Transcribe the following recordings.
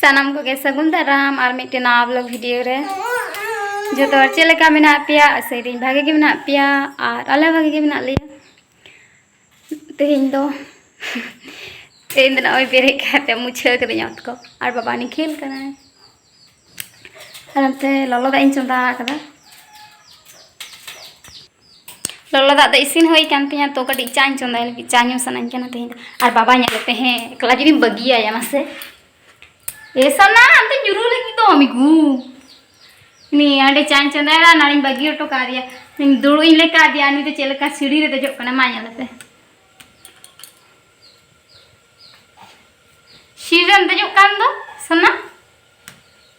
ᱥᱟᱱᱟᱢ ᱠᱚᱜᱮ ᱥᱟᱹᱜᱩᱱ ᱫᱟᱨᱟᱢ ᱟᱨ ᱢᱤᱫᱴᱮᱱ ᱱᱟᱣᱟ ᱵᱞᱚᱜ ᱵᱷᱤᱰᱤᱭᱳ ᱨᱮ ᱡᱚᱛᱚ ᱦᱚᱲ ᱪᱮᱫ ᱞᱮᱠᱟ ᱢᱮᱱᱟᱜ ᱯᱮᱭᱟ ᱟᱥᱟᱭᱫᱟᱹᱧ ᱵᱷᱟᱜᱮ ᱜᱮ ᱢᱮᱱᱟᱜ ᱯᱮᱭᱟ ᱟᱨ ᱟᱞᱮ ᱵᱷᱟᱜᱮ ᱜᱮ ᱢᱮᱱᱟᱜ ᱞᱮᱭᱟ ᱛᱮᱦᱮᱧ ᱫᱚ ᱛᱮᱦᱮᱧ ᱫᱚ ᱱᱚᱜᱼᱚᱭ ᱵᱮᱨᱮᱫ ᱠᱟᱛᱮ ᱢᱩᱪᱷᱟᱹᱣ ᱠᱟᱹᱫᱟᱹᱧ ᱚᱛ ᱠᱚ ᱟᱨ ᱵᱟᱵᱟ ᱩᱱᱤ ᱠᱷᱮᱞ ᱠᱟᱱᱟᱭ ᱟᱨ ᱚᱱᱛᱮ ᱞᱚᱞᱚ ᱫᱟᱜ ᱤᱧ ᱪᱚᱸᱫᱟ ᱟᱠᱟᱫᱟ ᱞᱚᱞᱚ ᱫᱟᱜ ᱫᱚ ᱤᱥᱤᱱ ᱦᱩᱭ ᱠᱟᱱ ᱛᱤᱧᱟ ᱛᱚ ᱠᱟᱹᱴᱤᱡ ᱪᱟᱧ ᱪᱚᱸᱫᱟᱭ ᱞᱟᱹᱜᱤᱫ ᱪᱟ ᱧᱩ ᱥᱟᱱᱟᱧ ᱠᱟᱱᱟ ᱛᱮᱦᱮᱧ ᱫᱚ ᱟᱨ ᱵᱟᱵᱟ ᱧᱮᱞ ᱯᱮ ᱦᱮᱸ ᱮᱠᱞᱟ ᱡᱩᱫᱤᱢ ᱵᱟᱹᱜᱤᱭᱟᱭᱟ ᱢᱟᱥᱮ ᱮ ᱥᱟᱱᱟ ᱟᱢᱫᱚ ᱧᱩᱨᱩ ᱞᱟᱹᱜᱤᱫ ᱫᱚ ᱢᱤᱜᱩ ᱱᱤ ᱟᱹᱰᱤ ᱪᱟᱧ ᱪᱚᱸᱫᱟᱭᱟ ᱱᱟᱲᱤᱧ ᱵᱟᱹᱜᱤ ᱦᱚᱴᱚ ᱠᱟᱣᱫᱮᱭᱟ ᱤᱧ ᱫᱩᱲᱩᱵ ᱤᱧ ᱞᱮᱠᱟ ᱟᱫᱮᱭᱟ ᱩᱱᱤ ᱫᱚ ᱪᱮᱫ ᱞᱮᱠᱟ ᱥᱤᱲᱤ ᱨᱮ ᱫᱮᱡᱚᱜ ᱠᱟᱱᱟ ᱢᱟ ᱧᱮᱞ ᱯᱮ ᱥᱤᱲᱤ ᱨᱮᱢ ᱫᱮᱡᱚᱜ ᱠᱟᱱ ᱫᱚ ᱥᱟᱱᱟ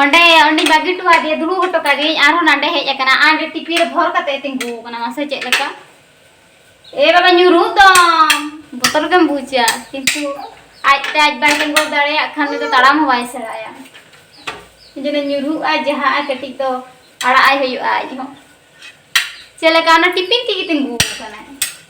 ᱚᱸᱰᱮ ᱚᱸᱰᱮ ᱵᱟᱹᱜᱤ ᱦᱚᱴᱚ ᱟᱫᱮᱭᱟ ᱫᱩᱲᱩᱵ ᱦᱚᱴᱚ ᱠᱟᱫᱮᱭᱟᱹᱧ ᱟᱨᱦᱚᱸ ᱱᱟᱰᱮ ᱦᱮᱡ ᱟᱠᱟᱱᱟ ᱟᱸᱰᱮ ᱴᱤᱯᱤ ᱨᱮ ᱵᱷᱚᱨ ᱠᱟᱛᱮ ᱛᱤᱸᱜᱩ ᱟᱠᱟᱱᱟ ᱢᱟᱥᱮ ᱪᱮᱫ ᱞᱮᱠᱟ ᱮ ᱵᱟᱵᱟ ᱧᱩᱨᱩ ᱫᱚᱢ ᱵᱚᱛᱚᱨ ᱜᱮᱢ ᱵᱩᱡᱟ ᱠᱤᱱᱛᱩ ᱟᱡ ᱛᱮ ᱟᱡ ᱵᱟᱭ ᱛᱤᱸᱜᱩ ᱫᱟᱲᱮᱭᱟᱜ ᱠᱷᱟᱱ ᱩᱱᱤ ᱫᱚ ᱛᱟᱲᱟᱢ ᱦᱚᱸ ᱵᱟᱭ ᱥᱮᱬᱟᱭᱟ ᱡᱮᱱᱮ ᱧᱩᱨᱩᱜᱼᱟ ᱡᱟᱦᱟᱸ ᱠᱟᱹᱴᱤᱡ ᱫᱚ ᱟᱲᱟᱜ ᱟᱭ ᱦᱩᱭᱩᱜᱼᱟ ᱟᱡ ᱦᱚᱸ ᱪᱮᱫ ᱞᱮᱠᱟ ᱚᱱᱟ ᱴᱤᱯᱤ ᱛᱮᱜᱮ ᱛᱤᱸᱜᱩ ᱟᱠᱟᱱᱟᱭ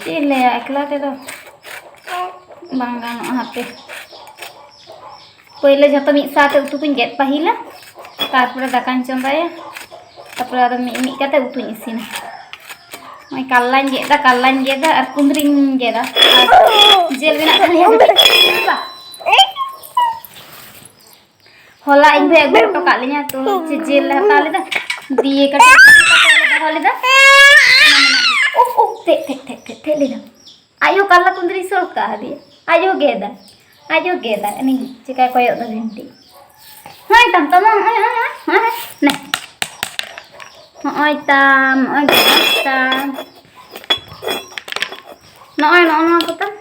ᱪᱮᱫ ᱤᱧ ᱞᱟᱹᱭᱟ ᱮᱠᱞᱟ ᱛᱮᱫᱚ ᱵᱟᱝ ᱜᱟᱱᱚᱜᱼᱟ ᱦᱟᱯᱮ ᱯᱳᱭᱞᱳ ᱡᱷᱚᱛᱚ ᱢᱤᱫ ᱥᱟᱶᱛᱮ ᱩᱛᱩ ᱠᱚᱧ ᱜᱮᱫ ᱯᱟᱹᱦᱤᱞᱟ ᱛᱟᱨᱯᱚᱨᱮ ᱫᱟᱠᱟᱧ ᱪᱚᱸᱫᱟᱭᱟ ᱛᱟᱨᱯᱚᱨᱮ ᱟᱫᱚ ᱢᱤᱫ ᱢᱤᱫ ᱠᱟᱛᱮ ᱩᱛᱩᱧ ᱤᱥᱤᱱᱟ ᱱᱚᱜᱼᱚᱭ ᱠᱟᱞᱞᱟᱧ ᱜᱮᱫ ᱮᱫᱟ ᱠᱟᱞᱞᱟᱧ ᱜᱮᱫ ᱮᱫᱟ ᱟᱨ ᱠᱩᱸᱫᱽᱨᱤᱧ ᱜᱮᱫᱟ ᱟᱨ ᱡᱮᱞ ᱢᱮᱱᱟᱜ ᱛᱟᱞᱮᱭᱟ ᱦᱚᱞᱟ ᱤᱧ ᱵᱷᱟᱹᱭ ᱟᱹᱜᱩ ᱦᱚᱴᱚ ᱠᱟᱜ ᱞᱤᱧᱟ ᱛᱚ ᱪᱮᱫ ᱡᱤᱞ ᱞᱮ ᱦᱟᱛᱟᱣ ᱞᱮᱫᱟ ᱫᱤᱭᱮ ᱠᱟᱹᱴᱤᱡ ᱞᱮ ᱫᱚᱦᱚ ᱞᱮᱫᱟ ᱩᱯ ᱩᱯ ᱛᱮᱫ ᱛᱮᱫ ᱛᱮᱫ ᱛᱮᱫ ᱛᱮᱫ ᱞᱮᱫᱟ ᱟᱡ ᱦᱚᱸ ᱠᱟᱨᱞᱟ ᱠᱩᱸᱫᱽᱨᱤ ᱥᱚᱲ ᱠᱟᱜ ᱟᱫᱮᱭᱟ ᱟᱡ ᱦᱚᱸ ᱜᱮᱫᱟ ᱟᱡ ᱦᱚᱸ ᱜᱮᱫᱟ ᱩᱱᱤ ᱪᱮᱠᱟᱭ ᱠᱚᱭᱚᱜ ᱫᱟ ᱵᱷᱤᱱᱴᱤ ᱦᱚᱸᱭ ᱛᱟᱢ ᱛᱟᱢ ᱦᱚᱸᱭ ᱦᱚᱸᱭ ᱦᱚᱸᱭ ᱱᱮ ᱦᱚᱸᱭ ᱛᱟᱢ ᱦᱚᱸᱭ ᱛᱟᱢ ᱱᱚᱜᱼᱚᱭ ᱱᱚᱜᱼᱚ ᱱᱚᱣᱟ ᱠᱚᱛᱟᱢ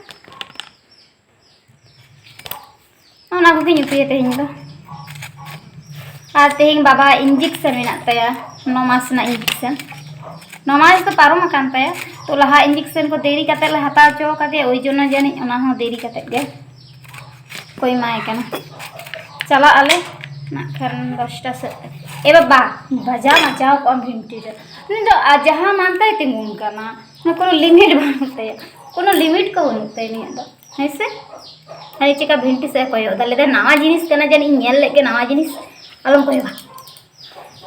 ᱚᱱᱟ ᱠᱚᱜᱮᱧ ᱩᱛᱩᱭᱟ ᱛᱮᱦᱮᱧ ᱫᱚ ᱟᱨ ᱛᱮᱦᱮᱧ ᱵᱟᱵᱟ ᱤᱧᱡᱮᱠᱥᱚᱱ ᱢᱮᱱᱟᱜ ᱛᱟᱭᱟ ᱱᱚ ᱢᱟᱥ ᱨᱮᱱᱟᱜ ᱤᱧᱡᱮᱠᱥᱚᱱ ᱱᱚ ᱢᱟᱥ ᱫᱚ ᱯᱟᱨᱚᱢ ᱟᱠᱟᱱ ᱛᱟᱭᱟ ᱛᱚ ᱞᱟᱦᱟ ᱤᱧᱡᱮᱠᱥᱚᱱ ᱠᱚ ᱫᱮᱨᱤ ᱠᱟᱛᱮ ᱞᱮ ᱦᱟᱛᱟᱣ ᱦᱚᱪᱚ ᱟᱠᱟᱫᱮᱭᱟ ᱳᱭ ᱡᱚᱱᱱᱚ ᱡᱟᱹᱱᱤᱡ ᱚᱱᱟ ᱦᱚᱸ ᱫᱮᱨᱤ ᱠᱟᱛᱮ ᱜᱮ ᱠᱚ ᱮᱢᱟᱭ ᱠᱟᱱᱟ ᱪᱟᱞᱟᱜ ᱟᱞᱮ ᱱᱟᱜ ᱠᱷᱟᱱ ᱫᱚᱥᱴᱟ ᱥᱮᱫ ᱮ ᱵᱟᱵᱟ ᱵᱟᱡᱟᱣ ᱢᱟᱡᱟᱣ ᱠᱚᱜᱼᱟᱢ ᱵᱷᱤᱱᱴᱤ ᱨᱮ ᱩᱱᱤ ᱫᱚ ᱡᱟᱦᱟᱸ ᱢᱟᱱ ᱛᱟᱭ ᱛᱤᱸᱜᱩᱱ ᱠᱟᱱᱟ ᱱᱚᱣᱟ ᱠᱳᱱᱳ ᱞᱤᱢᱤᱴ ᱵᱟᱹᱱᱩᱜ ᱛᱟᱭᱟ ᱠᱳᱱᱳ ᱞᱤᱢᱤᱴ ᱠᱚ ᱵᱟᱹᱱᱩᱜ ᱛᱟᱭᱟ ᱱᱤᱭᱟᱹ ᱫᱚ ᱦᱮᱸ ᱥᱮ ᱟᱨ ᱪᱮᱠᱟ ᱵᱷᱤᱱᱴᱤ ᱥᱮᱫ ᱠᱚᱭᱚᱜ ᱮᱫᱟ ᱞᱟᱹᱭᱫᱟ ᱱᱟᱣᱟ ᱡᱤᱱᱤᱥ ᱠᱟᱱᱟ ᱡᱟᱹᱱᱤᱡ ᱤᱧ ᱧᱮᱞ ᱞᱮᱫ ᱜᱮ ᱱᱟᱣᱟ ᱡᱤᱱᱤᱥ ᱟᱞᱚᱢ ᱠᱚᱭᱚᱜᱟ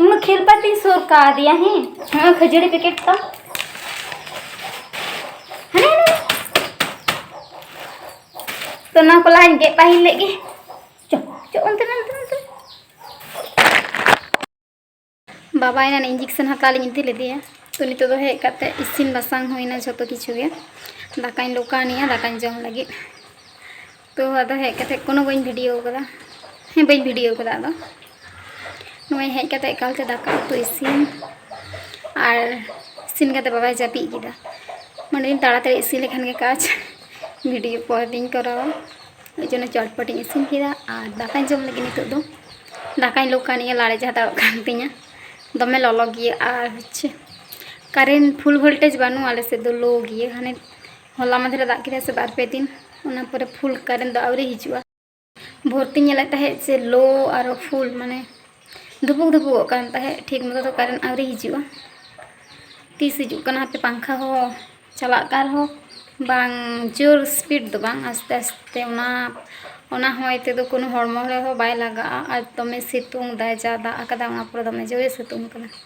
ᱩᱱ ᱠᱷᱮᱞᱯᱟᱛᱤᱧ ᱥᱩᱨ ᱠᱟᱣᱫᱮᱭᱟ ᱦᱮᱸ ᱱᱚᱜᱼᱚᱭ ᱠᱷᱟᱹᱡᱟᱹᱲᱤ ᱯᱮᱠᱮᱴ ᱛᱟᱢ ᱦᱟᱱᱮ ᱦᱟᱱᱮ ᱛᱚ ᱱᱚᱣᱟ ᱠᱚ ᱞᱟᱦᱟᱧ ᱜᱮᱫ ᱯᱟᱹᱦᱤᱞ ᱞᱮᱫ ᱜᱮ ᱪᱚ ᱪᱚ ᱚᱱᱛᱮ ᱚᱱᱛᱮ ᱵᱟᱵᱟ ᱮᱱᱟᱱ ᱤᱧᱡᱮᱠᱥᱚᱱ ᱦᱟᱛᱟᱣ ᱞᱤᱧ ᱤᱫᱤ ᱞᱮᱫᱮᱭᱟ ᱛᱚ ᱱᱤᱛᱚᱜ ᱫᱚ ᱦᱮᱡ ᱠᱟᱛᱮ ᱤᱥᱤᱱ ᱵᱟᱥᱟᱝ ᱦᱩᱭᱱᱟ ᱡᱷᱚᱛᱚ ᱠᱤᱪᱷᱩ ᱜᱮ ᱫᱟᱠᱟᱧ ᱞᱚᱠᱟᱱᱮᱜᱼᱟ ᱫᱟᱠᱟᱧ ᱡᱚᱢ ᱞᱟᱹᱜᱤᱫ ᱛᱚ ᱟᱫᱚ ᱦᱮᱡ ᱠᱟᱛᱮ ᱠᱳᱱᱳ ᱵᱟᱹᱧ ᱵᱷᱤᱰᱤᱭᱳ ᱠᱟᱫᱟ ᱦᱮᱸ ᱵᱟᱹᱧ ᱵᱷᱤᱰᱤᱭᱳ ᱠᱟᱫᱟ ᱟᱫᱚ ᱱᱚᱜᱼᱚᱭ ᱦᱮᱡ ᱠᱟᱛᱮ ᱮᱠᱟᱞᱛᱮ ᱫᱟᱠᱟ ᱩᱛᱩ ᱤᱥᱤᱱ ᱟᱨ ᱤᱥᱤᱱ ᱠᱟᱛᱮ ᱵᱟᱵᱟᱭ ᱡᱟᱹᱯᱤᱫ ᱠᱮᱫᱟ ᱢᱟᱱᱮ ᱛᱟᱲᱟᱛᱟᱲᱤ ᱤᱥᱤᱱ ᱞᱮᱠᱷᱟᱱ ᱜᱮ ᱠᱟᱡᱽ ᱵᱷᱤᱰᱤᱭᱳ ᱯᱚᱨᱮ ᱛᱤᱧ ᱠᱚᱨᱟᱣᱟ ᱱᱤᱛᱚᱜ ᱡᱚᱱᱚ ᱪᱚᱴᱯᱚᱴ ᱤᱧ ᱤᱥᱤᱱ ᱠᱮᱫᱟ ᱟᱨ ᱫᱟᱠᱟᱧ ᱡᱚᱢ ᱞᱟᱹᱜᱤᱫ ᱱᱤᱛᱚᱜ ᱫᱚ ᱫᱟᱠᱟᱧ ᱞᱩ ᱠᱟᱱ ᱤᱧ ᱞᱟᱲᱮᱡ ᱦᱟᱛᱟᱲᱚᱜ ᱠᱟᱱ ᱛᱤᱧᱟ ᱫᱚᱢᱮ ᱞᱚᱞᱚ ᱜᱮᱭᱟ ᱟᱨ ᱦᱚᱪᱪᱷᱮ ᱠᱟᱨᱮᱱᱴ ᱯᱷᱩᱞ ᱵᱷᱳᱞᱴᱮᱡᱽ ᱵᱟᱹᱱᱩᱜᱼᱟ ᱟᱞᱮ ᱥᱮᱫ ᱫᱚ ᱞᱳ ᱜᱮᱭᱟ ᱦᱟᱱᱮ ᱦᱚᱞᱟ ᱢᱟᱫᱷᱮᱨ ᱫᱟᱜ ᱠᱮᱫᱟᱭ ᱥᱮ ᱵᱟᱨ ᱯᱮ ᱫᱤᱱ ᱚᱱᱟ ᱯᱚᱨᱮ ᱯᱷᱩᱞ ᱠᱟᱨᱮᱱᱴ ᱫᱚ ᱟᱹᱣᱨᱤ ᱦᱤᱡᱩᱜᱼᱟ ᱵᱷᱳᱨ ᱛᱮᱧ ᱧᱮᱞᱮᱫ ᱛᱟᱦᱮᱸᱫ ᱥᱮ ᱞᱳ ᱟᱨᱚ ᱯᱷᱩᱞ ᱢᱟᱱᱮ ᱫᱩᱵᱩᱠ ᱫᱩᱵᱩᱠᱚᱜ ᱠᱟᱱ ᱛᱟᱦᱮᱸᱫ ᱴᱷᱤᱠ ᱢᱚᱛᱚ ᱫᱚ ᱠᱟᱨᱮᱱᱴ ᱟᱹᱣᱨᱤ ᱦᱤᱡᱩᱜᱼᱟ ᱛᱤᱥ ᱦᱤᱡᱩᱜ ᱠᱟᱱᱟ ᱦᱟᱯᱮ ᱯᱟᱝᱠᱷᱟ ᱦᱚᱸ ᱪᱟᱞᱟᱜ ᱠᱟᱱ ᱨᱮᱦᱚᱸ ᱵᱟᱝ ᱡᱳᱨ ᱥᱯᱤᱰ ᱫᱚ ᱵᱟᱝ ᱟᱥᱛᱮ ᱟᱥᱛᱮ ᱚᱱᱟ ᱚᱱᱟ ᱦᱚᱭ ᱛᱮᱫᱚ ᱠᱳᱱᱳ ᱦᱚᱲᱢᱚ ᱨᱮᱦᱚᱸ ᱵᱟᱭ ᱞᱟᱜᱟᱜᱼᱟ ᱟᱨ ᱫᱚᱢᱮ ᱥᱤᱛᱩᱝ ᱫᱟᱭ ᱡᱟ ᱫᱟᱜ ᱟᱠᱟᱫᱟᱭ ᱚᱱᱟ ᱯᱚᱨᱮ ᱫᱚᱢᱮ ᱡᱳᱨᱮ ᱥᱤᱛᱩᱝ ᱠᱟᱫᱟ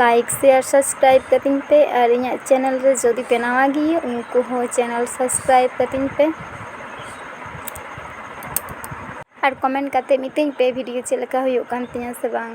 ᱞᱟᱭᱤᱠ ᱥᱮᱭᱟᱨ ᱥᱟᱵᱥᱠᱨᱟᱭᱤᱵᱽ ᱠᱟᱹᱛᱤᱧ ᱯᱮ ᱟᱨ ᱤᱧᱟᱹᱜ ᱪᱮᱱᱮᱞ ᱨᱮ ᱡᱩᱫᱤ ᱯᱮ ᱱᱟᱣᱟ ᱜᱮᱭᱟ ᱩᱱᱠᱩ ᱦᱚᱸ ᱪᱮᱱᱮᱞ ᱥᱟᱵᱥᱠᱨᱟᱭᱤᱵᱽ ᱠᱟᱹᱛᱤᱧ ᱯᱮ ᱟᱨ ᱠᱚᱢᱮᱱᱴ ᱠᱟᱛᱮ ᱢᱤᱛᱟᱹᱧ ᱯᱮ ᱵᱷᱤᱰᱤᱭᱳ ᱪᱮᱫ ᱞᱮᱠᱟ ᱦᱩᱭᱩᱜ ᱠᱟᱱ ᱛᱤᱧᱟᱹ ᱥᱮ ᱵᱟᱝ